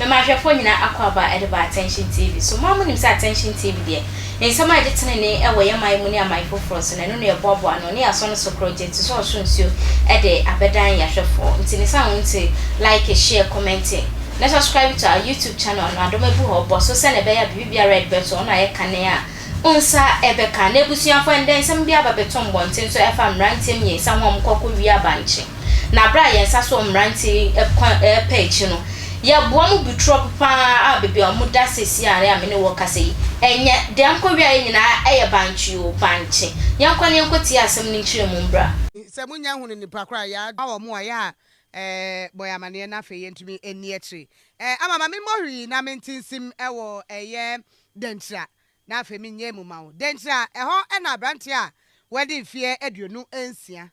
Mema ahwɛfoɔ nyinaa akwaaba de ba Attention TV so. Mo ara monim sɛ Attention TV deɛ. Ne nsɛm a ɛde tenenee wɔ yɛn man mu ne aman foforɔ so, na ɛno na yɛboaboa ano, ne yɛasɔ no so korɔgyenn te sɛ ɔsoro nsuo de abɛdan yɛn ahwɛfoɔ. Nti ne saa wonte, like, share, comment, na subscribe to our YouTube channel no, adom abu hɔ, bɔ so sɛnea ɛbɛyɛ a biribi biara a yɛde bɛto hɔ no ayɛ kane a wo nsa bɛka. Na abusuafoɔ, ɛndɛ nsɛm bi aba bɛto mmɔnten so ɛfa mmeranteɛ mmiɛnsa ho a wɔkɔ kɔwie abankye. Na bere a yɛn nsa so mmerante yi kɔ repɛ akyi no, yɛboa mo bu trɔp pa ara baabi a wɔda seesei a me ne wo rekasa yi. Ɛnyɛ, deɛ nkɔwiaeɛ nyinaa yɛ bankye oo, bankye. Yɛnkɔ na yɛnkɔtie asɛm no nkyerɛmu mbra. Sɛ mo nnya hunu nipa koro a, ya a wɔn wɔ ya a bɔ yɛ amaneɛ na afei yɛntumi nni akyire. Eh, ama ma me mmɔ hwii na me nte nsim wɔ ɛyɛ Dankyira na afei me nyɛ mu ma wo. Dankyira, ɛhɔ na aberanteɛ a wadi mfeɛ aduonu nsia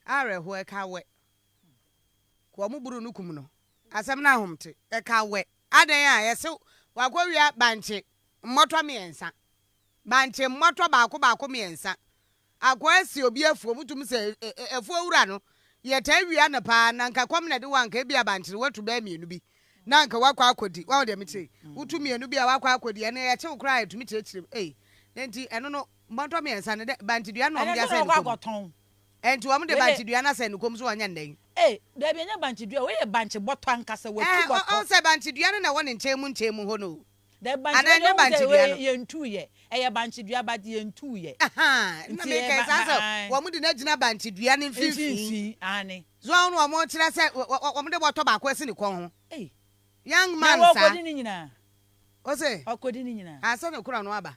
Awerɛhoɔ ɛka wɛ kɔ ɔmo buru no kum no asɛm no ahom te. Ɛka wɛ adɛn a yɛse wakɔ wia bankye mmɔtɔ mmiɛnsa bankye mmɔtɔ baako baako mmiɛnsa akɔ asi obi afuo mutum sɛ afuo wura no yɛtaa wia no paa na nka kɔm na de wo anka ebia bankye no watu bɛɛ mmienu bi na anka wakɔ akɔdi wahu deɛ mekyerɛ yi wotu mmienu bi a wakɔ akɔdi ɛno yɛkye wo koraa yɛtumi kyerɛkyerɛ mu ei na nti ɛno no mmɔtɔ mmiɛnsa no dɛ bankye dua no na ɔmo de asɛn no kɔm. Ɛnti wɔn de bankye dua no asɛn ne kɔn mu so wɔnyɛ nnɛ yi. Ei, daabi ɛnyɛ bankye dua, wei yɛ bankye bɔtɔ ankasa, watu bɔtɔ. Ɛɛ, ɔhu sɛ bankye dua no na ɛwɔ ne nkyɛn mu nkyɛn mu hɔ no o. Daabi, bankye dua deɛ ɔhu sɛ wei yɛntuu yɛ, ɛyɛ bankye dua but yɛntuu yɛ. Ahaa, nna mekɛɛ saa sɛ wɔn de no agyina bankye dua no mfinfin. Aane. So wɔn na wɔn kyerɛ sɛ wɔn de bɔtɔ baako asi ne kɔn ho. Ei. Young man saa. Na wɔkɔdi ne nyinaa. Ose. Ɔkɔdi ne nyinaa. Ansa na kura no aba.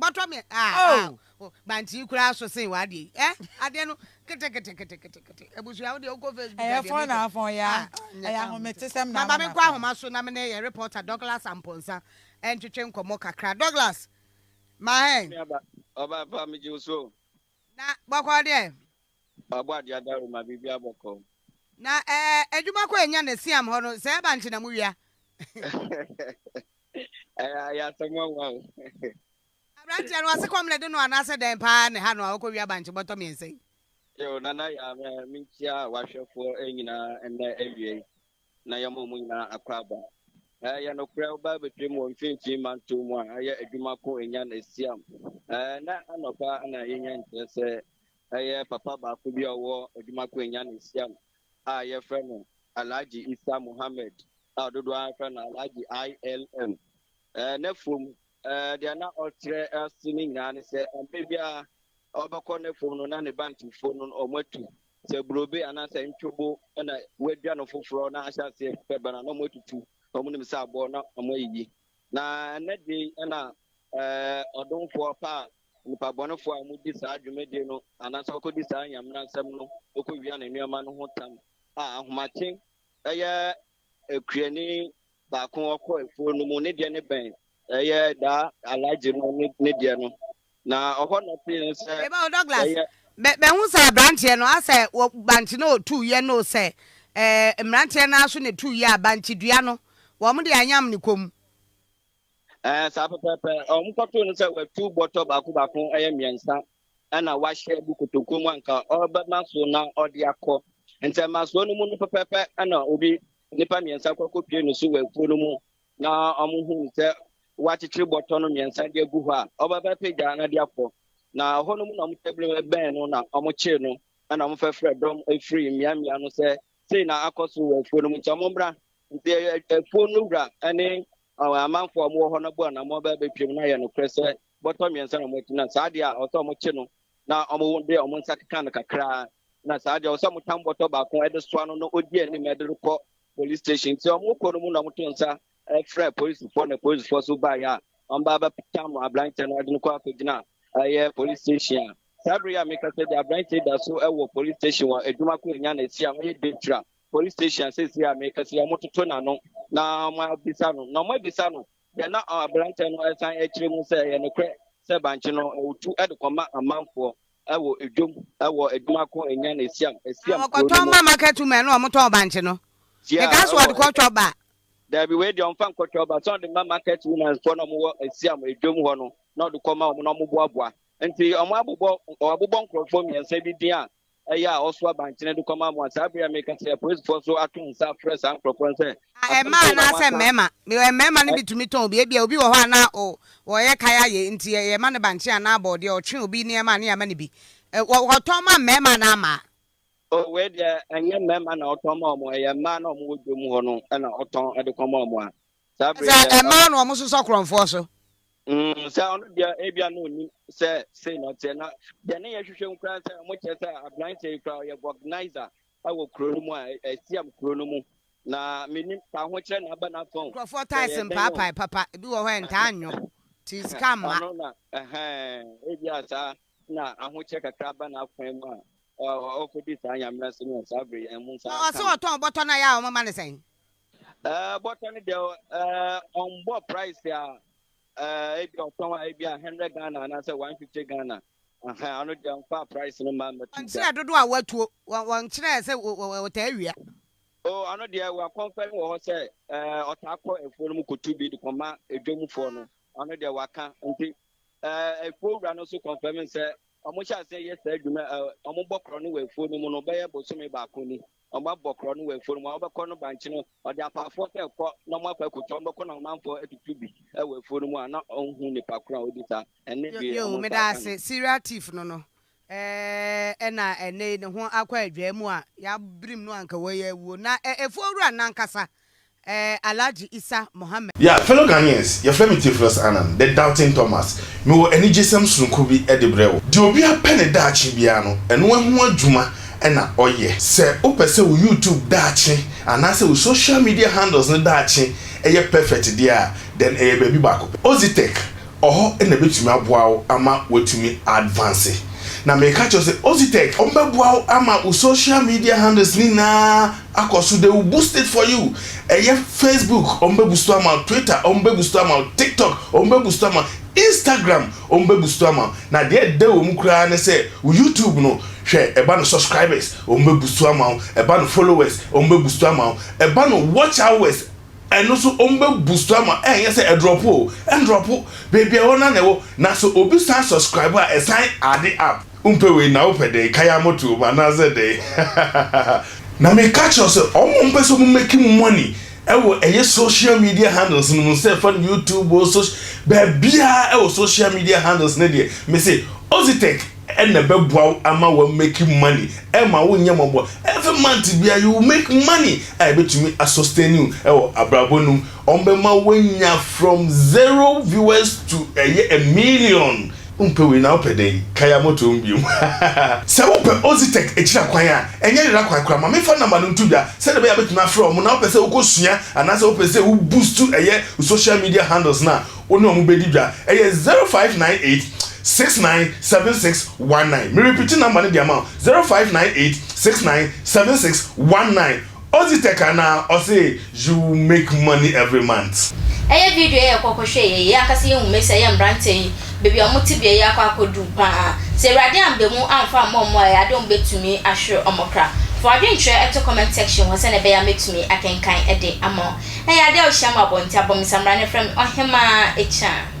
Bɔtɔ me ah ah oh. oh Bankyii koraa so sen w'adeɛ yi eh Adeɛ no kete kete kete kete kete Abusua wo deɛ wokɔ Facebook a deɛ mekɔ Ɛyɛ fɔn na afɔn ya ah Ɛyɛ ahometesɛm na ama Maba menkɔ ahoma so na me ne yɛn reporter Douglas Amponsah ntwetwe nkɔmmɔ kakra Douglas ma hɛn. Ɔba pa megye wo so o. Na bɔkɔɔ deɛ. Wabɔ adeɛ adaworo ma biribiara bɔkɔɔ. Na ɛɛ adwuma kɔ anya na siam hɔ no sɛ ɛba nkye na mo wia. Ɛyɛ ayɛ asɛm nwanwa o. Abranteɛ no ɔse kɔm na ɛde no anaasɛ dɛn paa na ɛha no a ɔkɔ wia bankye bɔtɔ mmiɛnsa yi. Yo Nana Yaa me menkyia w'ahwɛfoɔ nyinaa nnɛ awiei. na yɛma wɔn nyinaa akwaaba. Ɛyɛ nokorɛ, wo ba bɛtwam wɔ mfimfini mantoo mu a ɛyɛ adwuma ko Enyan Esiam. Ɛnnɛ anɔpa na yɛnya nkyerɛ sɛ ɛyɛ papa baako bi a ɔwɔ adwuma ko Enyan Esiam a yɛfrɛ no Alhaji Issa Mohammed a dodoɔ ara frɛ no Alhaji ILM. Ɛnnɛ fam Ɛɛ, deɛ na ɔkyerɛ ase no nyinaa ne sɛ, mmerɛ biara ɔbɛkɔ n'afuom no, na ne Bantufo no wɔatu sɛ burobe anaasɛ ntwobo na wɔadwa no foforɔ na ahyɛ aseɛ bɛba no a, na wɔatutu, na wɔnim sɛ aboɔ na wɔayiyi. Na ɛnnɛ de yi na ɛɛ, ɔdomfoɔ pa a nnipa bɔnefoɔ a wɔdi saa dwumadie no anaasɛ wɔkɔdi saa Nyame no asɛm no kɔwia ne nneɛma no ho tam a ahomakye yɛ Akuani baako a ɔkɔ afuo no mu, ne deɛ no bɛn ɛyɛ daa alagye no ne deɛ no, na ɔhɔ na ɔte yɛn sɛ ɛyɛ. Bɛhu sɛ aberanteɛ no asɛ bankye no ɔtuu yɛ no sɛ mmeranteɛ no aso ne tuu yɛ a bankye dua no wɔn de anyam ne kɔn mu. Ɛɛ saa pɛpɛɛpɛ wɔn kɔtoo no sɛ watu bɔtɔ baako baako ɛyɛ mmiɛnsa na wahyɛ gu kotokuo mu anka ɔrebɛma so na ɔde akɔ ntɛmmasoɔ no mu no pɛpɛpɛ na obi nnipa mmiɛnsa kɔ akɔpie no so wɔ afuo no mu na wɔhu no sɛ wakyekyere bɔtɔ no mmiɛnsa de agu hɔ a ɔbɛbɛpagya na de akɔ na ɛhɔ no mu na wɔtabiri bɛn no na wɔkyee no na wɔfɛfrɛ dɔm firi mmeammea no sɛ sei na akɔ so wɔ afuo no mu nti wɔmmra nti afuo no wura ne amanfoɔ a wɔwɔ hɔ no bɔ anamɔ bɛbɛtwam na yɛ nokorɛ sɛ bɔtɔ mmiɛnsa na wɔn akyi na saa deɛ a ɔsɛ wɔn kye no na wɔn de wɔn nsa keka no kakraa na saa deɛ ɔsɛ wɔn tam bɔtɔ baako de soa no na ɔdi anim de no kɔ police station nti wɔn kɔ no mu na wɔn to nsa frɛ polisifoɔ na polisifoɔ so baayɛ a wɔn ba abɛtam aberanteɛ no de no kɔ akɔgyina ɛyɛ police station a saa bere a meka sɛ de aberanteɛ da so wɔ police station wɔ adwuma ko anya na esi a wɔyɛ dentra police station a sɛsi a meka sɛ wɔn toto n'ano na wɔn abisa no na wɔn abisa no Deɛ na aberanteɛ no resan akyerɛ mu sɛ ɛyɛ nokorɛ sɛ bankye no wɔtu de kɔma amanfoɔ wɔ dwam wɔ adwuma ko nya no Esiam, Esiam kuro no mu. Wɔkɔtɔn ma market women no a wɔtɔn bankye no. Tia Mekaa sɛ wɔ wɔde kɔ Twɔba. Daabi, wei deɛ wɔmfa nkɔ Twɔba, sɛ wɔde ma market women foɔ no a wɔwɔ Esiam dwam hɔ no na wɔde kɔma wɔn na wɔboaboa. Nti wɔabobɔ wɔabobɔ nkorɔfoɔ mmiɛnsa bi din a ɛyɛ a ɔsow abankyene de kɔma mo a, saa bere yi a mereka sɛ apolisifoɔ nso ato nsa afrɛ saa nkurɔfoɔ no sɛ, A Asɛm mmaa sei na anaasɛ moaka? mmarima? Because mmarima no Ɛ- bi tumi tɔn obi. Ebia obi wɔ hɔ a na o, wɔyɛ kae ayɛ nti yɛ- yɛma no bankye anaa bɔɔdeɛ, ɔtwe obi nneɛma a ne yɛama no bi. Ɛ, wɔ- Wɔtɔn ma mmarima anaa mmaa? O, wei deɛ ɛnyɛ mmarima na ɔtɔn ma wɔn, ɛyɛ mmaa na wɔwɔ dwom hɔ no na ɔtɔn de kɔma wɔn a. Saa bere yi Sɛ a ɛmaa ɔno. na wɔsosɔ korɔmfoɔ so. Mm, sɛ ɔno deɛ ebia na onim sɛ sei na ɔteɛ na deɛ ne yɛhwehwɛ mu koraa sɛ ɔmo kyerɛ sɛ aberanteɛ yi koraa ɔyɛ organizer ɛwɔ kuro no mu a ɛ- ɛsiam kuro no mu na menim sɛ ahokyerɛ na aba n'afɔn Nkurɔfoɔ sɛ taes yɛ dɛn o mpaapae papa, ebi wɔ hɔ a ɛntaa nnwo, nti sika mma. ɔno na ɛhɛn ebia saa na ahokyerɛ kakra aba n'afɔn mu a ɔ- ɔ- ɔkɔdi saa nyamena so no saa bere yi ɛho nsa Na ɔse aka no ɔtɔn bɔtɔ no a yɛ a wɔma no sɛn? Eh, bɔtɔ no deɛ eh, ɔmbɔ price a eh, ebi ɔtɔn a ebi a hundred ghana anaasɛ one fifty ghana aha ɔno deɛ nfa price no ma mmɛto gya wɔnkyerɛ dodoɔ a watuo wɔ- wɔnkyerɛ sɛ wɔ- wɔ- wɔtaa awia o ɔno deɛ wakɔnfɛ no wɔ hɔ sɛ eh, ɔtaa kɔ afuo no mu kotu bi de kɔma adwamfoɔ no ɔno deɛ waka nti eh, afuo wura no nso kɔnfɛm sɛ ɔmo hyɛ aseɛ yɛ saa adwuma eh, ɔmo bɔ korɔ no wɔ afuo no mu no bɛyɛ bosome baako ni Wɔabɔ korɔ no wɔ afuo no mu a wɔbɛkɔ no bankye no, ɔde apaafoɔ sɛ kɔ na wɔakɔ akɔtwa wɔn bɛkɔ na ɔmanfoɔ atutu bi wɔ afuo no mu a na ɔnhu nipa korɔ a ɔdi saa. Ɛnne deɛ Yoo, wɔn nsa meda aka no. ase. Serial thief no no eh, na ɛnnɛ yi ne ho akɔ adwaa mu a, yɛabirim no a anka wei awuo. Na eh, afuo wura no ankasa Ɛɛ Alhaji Isa Mohammed. Yeah, fellow Ghanaians, yɛfrɛ me Theophilus Annan, The Doubting Thomas. Mewɔ anigyesɛm sononko bi de brɛ wo. Deɛ obiara pɛ ne daakye biara no, ɛno ho adwuma na ɔyɛ. Sɛ wopɛ sɛ wo YouTube daakye anaasɛ wo social media handles no daakye yɛ perfect deɛ a, then ɛyɛ baabi baako pɛ. Ozitech wɔ hɔ na ɛbɛtumi aboa wo ama woatumi a advance. Na meka kyerɛ wo sɛ Ozitech, wɔbɛboa wo ama wo social media handles no nyinaa, akɔ so they will boost it for you ɛyɛ Facebook wɔn bɛ boost ama wo Twitter wɔn bɛ boost ama wo TikTok wɔn bɛ boost ama Instagram wɔn bɛ boost ama wo na deɛ ɛda wɔn mu koraa ne sɛ wo YouTube no hwɛ ɛba no subscribers wɔn bɛ boost ama wo ɛba no followers wɔn bɛ boost ama wo ɛba no watch hours ɛno so wɔn bɛ boost ama wo ɛnyɛ sɛ ɛdrɔpo o ɛndrɔpo beebi a ɛwɔ no na ɛwɔ na sɛ obi san subscribe a ɛsan ade up. Wompɛ wei na wopɛ dɛn? Kae amoto wom anaasɛ dɛn? Hahahaha. Na meka kyerɛ wo sɛ wɔn a wɔpɛ sɛ wɔn make money wɔ ɛyɛ social media handles no mu sɛ fa no YouTube o soc baabiara wɔ social media handles no deɛ mese Ozytec na ɛbɛboa wo ama wa make money ɛma wo nyɛ mɔbɔ every month biara you will make money a ɛbɛtumi a sustain you wɔ abrabɔ no mu wɔn bɛma wo anya from zero viewers to ɛyɛ a million Wompɛ wei na wopɛ dɛn? Kae a motow mu bio. Sɛ wopɛ Ozytec akyiri akwan a ɛnyɛ yera kwan koraa, ma memfa nɔma no nto dwa sɛnea ɛbɛyɛ a metumi afrɛ wɔn, na wopɛ sɛ wokosua anaasɛ wopɛ sɛ wo boost ɛyɛ wo social media handles no a, wo ne wɔn bɛdi dwa. Ɛyɛ zero five nine eight, six nine seven six one nine. Merepiti nɔma no de ama wo, zero five nine eight, six nine seven six one nine. Odzi tɛk anaa ɔse you make money every month. Ɛyɛ video yɛ yɛkɔ kɔ hwɛ yɛ yɛ ankasa yɛ hu mɛ sɛ yɛ mbrantɛ yi bɛbi a ɔmo te bia yɛ akɔ akɔ du paa sɛ awurade amba mu amfa amma ɔmo a ɛyɛ ade ɔmo bɛ tumi ahwere ɔmo kra fa wadwen kyerɛ ɛto comment section hɔ sɛnɛ ɛbɛyɛ a mɛ tumi akenkan ɛde ama wo ɛyɛ ade a ɔhyia mo abɔ nti abɔ me samina ne frɛ me ɔhemaa akyiaa.